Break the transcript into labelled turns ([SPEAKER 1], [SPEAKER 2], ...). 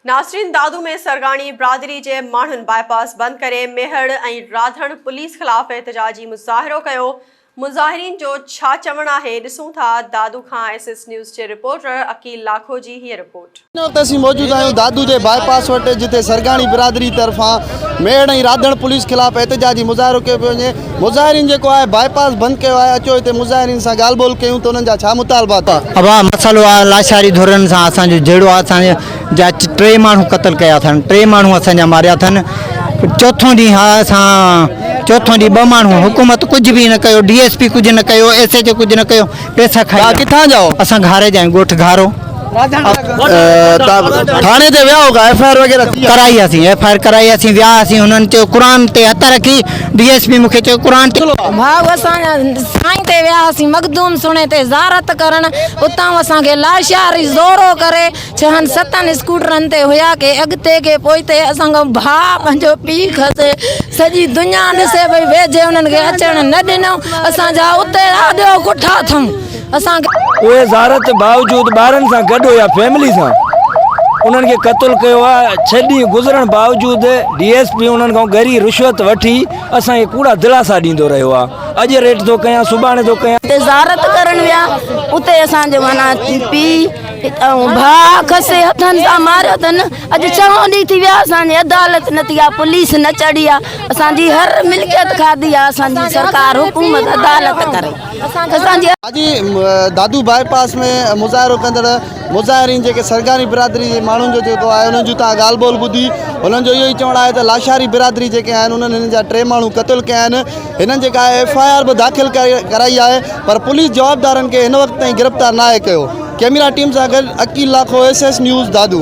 [SPEAKER 1] ناصرين دادو ۾ سرگاڻي برادري جي ماڻهن باء پاس بند ڪري ميهڙ ۽ راڌڻ پوليس خلاف احتجاجي مظاهرو ڪيو، مظاهرين جو ڇا چوڻ آهي ڏسون ٿا، دادو کان ايس ايس نيوز جي رپورٽر عقيل لاکو جي هيء رپورٽ. هن وقت اسين موجود آهيون دادو
[SPEAKER 2] جي باء پاس وٽ جتي سرگاڻي برادري طرفان ميهڙ ۽ راڌڻ پوليس خلاف احتجاجي مظاهرو ڪيو پيو وڃي، مظاهرين جيڪو آهي باء پاس بند ڪيو آهي اچو هتي مظاهرين سان ڳالهه ٻولهه ڪيون ته انهن جا ڇا مطالبا ٿا. اها مسئلو آهي
[SPEAKER 3] لاشاري ڌرين سان اسان جو جهيڙو آهي اسان جا ٽي ماڻهو قتل ڪيا اٿن ٽي ماڻهو اسان جا ماريا اٿن چوٿون ڏينهن آهي اسان چوٿون ڏينهن ٻه ماڻهو حڪومت ڪجهه به نه ڪيو ڊي ايس پي ڪجهه نه ڪيو ايس ايچ او ڪجهه نه ڪيو پيسا کائي ويا. ڪٿان جا هئو؟ اسان گهاري
[SPEAKER 2] جا آهيون ڳوٺ
[SPEAKER 3] گهارو. تان
[SPEAKER 2] ٿاڻي تي ويا هئو ڪا ايف آء آر وغيره ٿي آهي؟ ڪرائي هئاسين ايف آء آر
[SPEAKER 3] ڪرائي هئاسين ويا هئاسين هنن چيو قرآن تي هٿ رکي ڊي ايس پي مون کي چيو قرآن تي ڀائو اسان
[SPEAKER 4] سائين تي ويا هئاسين مخدوم سڻي تي زارت ڪرڻ اتان اسان کي لاشاري زورو ڪري ڇهن ستن اسڪوٽرن تي هيا ڪي اڳتي ڪي پوئتي اسان کان ڀاء پنهنجو پيء کسي سڄي دنيا ڏسي پئي ويجهي انهن کي اچڻ نه ڏنو اسان جا اتي رهه ڏيو ڪٺا اٿم اسان کي اهي زارت
[SPEAKER 5] باوجود ٻارن سان گڏ هيا فيملي سان انهن کي قتل ڪيو آ ڇهه ڏينهن گذرڻ باوجود ڊي ايس پي انهن کان ڳري رشوت وٺي اسان کي ڪوڙا دلاسا ڏيندو رهيو آ اڄ ريٽ ٿو ڪيان سڀاڻي ٿو ڪيان. اتي زارت ڪرڻ ويا
[SPEAKER 4] اتي اسان جو معنيٰ پيء اتان ڀاء کسي هٿن سان ماريو اٿن اڄ چوهون ڏينهن ٿي ويا اسان جي عدالت نه ٿي آ پوليس نه چڙهي آ اسان جي هر ملڪيت کاڌي آ اسان جي سرڪار حڪومت عدالت ڪري اسان جي اڄ
[SPEAKER 2] دادو باء پاس ۾ مظاهرو ڪندڙ مظاهرين جيڪي سرگاري برادري جي ماڻهن جو جيڪو آهي انهن جون تان ڳالهه ٻولهه ٻڌي انهن جو اهو ئي چوڻ آهي ته لاشاري برادري جيڪي آهن انهن هنن جا ٽي ماڻهو قتل ڪيا آهن هنن جيڪا ايف آء آر به داخل ڪرائي آهي پر پوليس جوابدارن کي هن وقت تائين گرفتار ناهي ڪيو، ڪيميرا ٽيم سان گڏ Aqeel Lakho, S S news, Dadu.